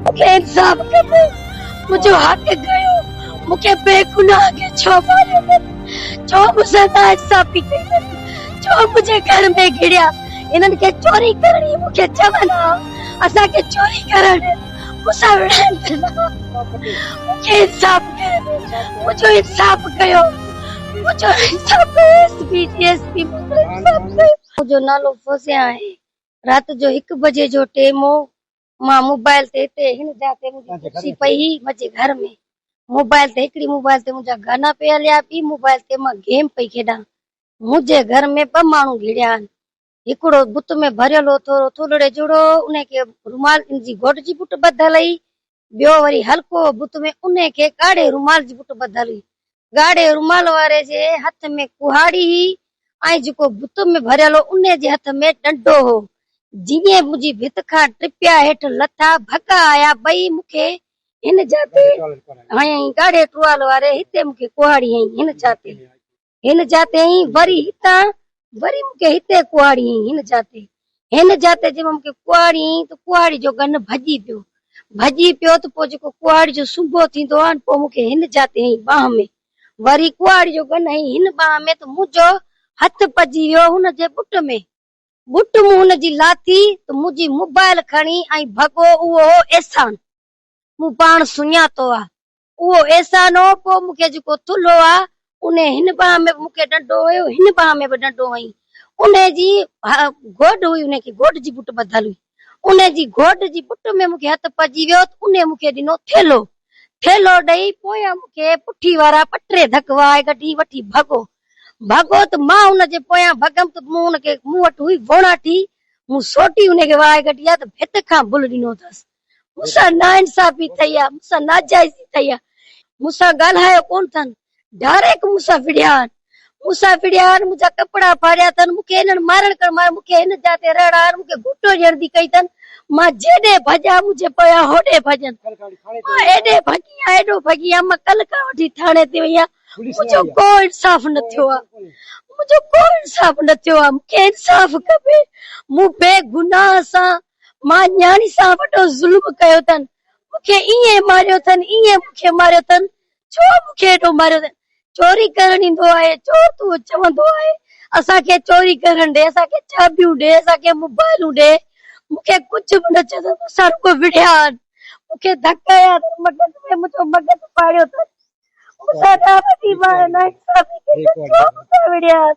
مون کي انصاف کپي مون جو حق ڪيو مون کي بي گناهه کي ڇو ماريو اٿن ڇو مون سان نا انصافي ڪئي اٿن ڇو منهنجي گهر ۾ گهڙيا هنن کي چوري ڪرڻي مون کي چون ها اسان کي چوري ڪرڻ ڏين مون سان وڙهڻ ڏين ها مون کي انصاف ڪيو مون جو انصاف ڪيو مون جو انصاف ڪيو ايس پي جي ايس پي مون جو انصاف ڪيو منهنجو نالو فوزيا آهي رات جو هڪ بجي جو ٽيم هو مان موبائل تي هتي هن جاء تي منهنجي ڪرسي پئي هئي منهنجي گهر ۾ موبائل تي هڪڙي موبائل تي منهنجا گانا پئي هليا ٻي موبائل تي مان گيم پئي کيڏان منهنجي گهر ۾ ٻه ماڻهو گهڙيا آهن هڪڙو بت ۾ ڀريل هو ٿورو ٿولڙي جهڙو انهي کي رومال ان جي گهوٽ جي بوٽ ٻڌل هئي ٻيو وري هلڪو هو بت ۾ انهي کي ڳاڙهي رومال جي بوٽ ٻڌل هئي ڳاڙهي رومال واري جي هٿ ۾ ڪهاڙي هئي ۽ جيڪو بت ۾ ڀريل هو انهي جي هٿ ۾ ڏنڊو هو. جيئن منهنجي ڀت کان ٽپيا هيٺ لٿا، ڀڳا آيا، ٻئي مون کي هن جا تي هنيائين، ڳاڙهي ٽوال واري هتي مون کي ڪهاڙي هنئي، هن جا تي هن جا تي هنئي، وري هتان وري مون کي هتي ڪهاڙي هئي هن جاتي هن جاتي جي مون کي ڪهاڙي هئي ته ڪهاڙي جو گن ڀڄي پيو ڀڄي پيو ته پوء جيڪو ڪهاڙي جو سنبو ٿيندو آهي پوء مون کي هن جاتي هئي ٻانهن ۾ وري ڪهاڙي جو گن هئي هن ٻانهن ۾ ته منهنجو هٿ پئجي ويو هن جي ٻٽ ۾ ٻٽ مون هن جي لاٿي ته منهنجي موبائل کڻي ۽ ڀڳو اهو هو احسان. مون پاڻ سڃاتو آ، اهو احسان هو، پوء مون کي جيڪو ٿلهو آ، انهي هن ٻانهن ۾ به مون کي ڏنڊو هنيو، هن ٻانهن ۾ به ڏنڊو هنئي. انهي جي گوڏ هئي، انهي کي گوڏ جي بٽ ٻڌل هئي، انهي جي گوڏ جي بٽ ۾ مون کي هٿ پئجي ويو ته انهي مون کي ڏنو ٿيلهو. ٿيلهو ڏئي پويان مون کي پٺي وارا ٻه ٽي ڌڪ وهائي ڳڍي وٺي ڀڳو. ڀڳو ته مان ان جي پويان ڀڳم ته مون ان کي، مون وٽ هئي ووڻاٺي، مون سوٽي انهي کي وهائي ڳڍي آ ته ڀت کان بل ڏنو اٿس. مون سان ناانصافي ٿئي آ، مون سان ناجائزي ٿئي آ، مون سان ڳالهايو ڪونه ٿن، ڊاريڪ مون سان وڙهيا آهن، مون سان وڙهيا آهن، منهنجا ڪپڙا ڦاڙيا ٿن، مون کي هنن مارڻ ڪرڻ ماريو، مون کي هن جاء تي رهڻ آهن، مون کي گهوٽو ڏيڻ ڌي ڪئي ٿن، مان جيڏي ڀڄان منهنجي پويان هوڏي ڀڄن، مان ايڏي ڀڳي آهيان، ايڏو ڀڳي آهيان، مان ڪلهه کان وٺي ٿاڻي تي وئي آهيان، منهنجو ڪو انصاف نه ٿيو آ، منهنجو ڪو انصاف نه ٿيو آ، مون کي انصاف کپي، مون بي گناهه سان مان نياڻي سان وڏو ظلم ڪيو اٿن، مون کي ائين ماريو اٿن، ائين مون کي ماريو اٿن، ڇو مون کي ايڏو ماريو اٿن؟ چوري ڪرڻ ايندو آهي، چور تون چوندو آهي، اسان کي چوري ڪرڻ ڏي، اسان کي چاٻيون ڏي، اسان کي موبائلون ڏي، مون کي ڪجهه به نه چيو اٿن، مون سان رڳو وڙهيا آهن، مون کي ڌڪ هنيا اٿن، مغز ۾ منهنجو مغز ڦاڙيو اٿن، مون سان ڏاڍي وڏي ناانصافي ڪئي اٿن، ڇو مون سان وڙهيا آهن؟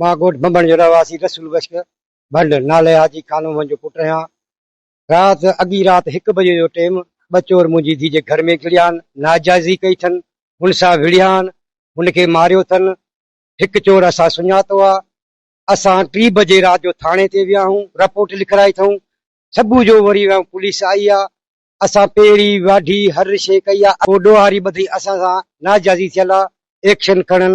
مان ڳوٺ ڀنڀڻ جو رهواسي رسول بخش ڀنڊ نالي حاجي خانومن جو پٽ رهيان. رات اڳي رات هڪ بجي جو ٽيم ٻه چور منهنجي ڌيء جي گهر ۾ گهڙيان، ناجائزي ڪئي اٿن، هن سان وڙهيان، هن کي ماريو اٿن. هڪ چور اسان سڃاتو آ. اسان ٽي بجي رات جو ٿاڻي تي ويا آهيون، رپورٽ لکرائي اٿئون. صبح جو وري ويا آهيون پوليس آئي آ. اسان پيڙهي، واڍي هر شيء ڪئي آ. پوء ڏوهاري ٻڌئي اسان سان ناجائزي ٿيل آ، ايڪشن کڻن،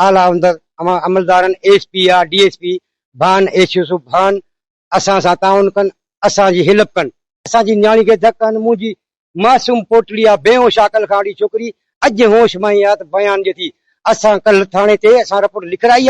اعليٰ عمدن اوهان عملدارن S P I D S P ڀان ايس يوسف ڀان اسان سان تعاون ڪن اسان جي هيلپ ڪن. اسان جي نياڻي کي ڌڪ هنڌ منهنجي معصوم پوٽڙي آ بيهوش عاقل کان اڙي ڇوڪري اڄ هوش ۾ آ ته بيان ڏي ٿي اسان ڪلهه ٿاڻي تي اسان رپورٽ لکرائي آ.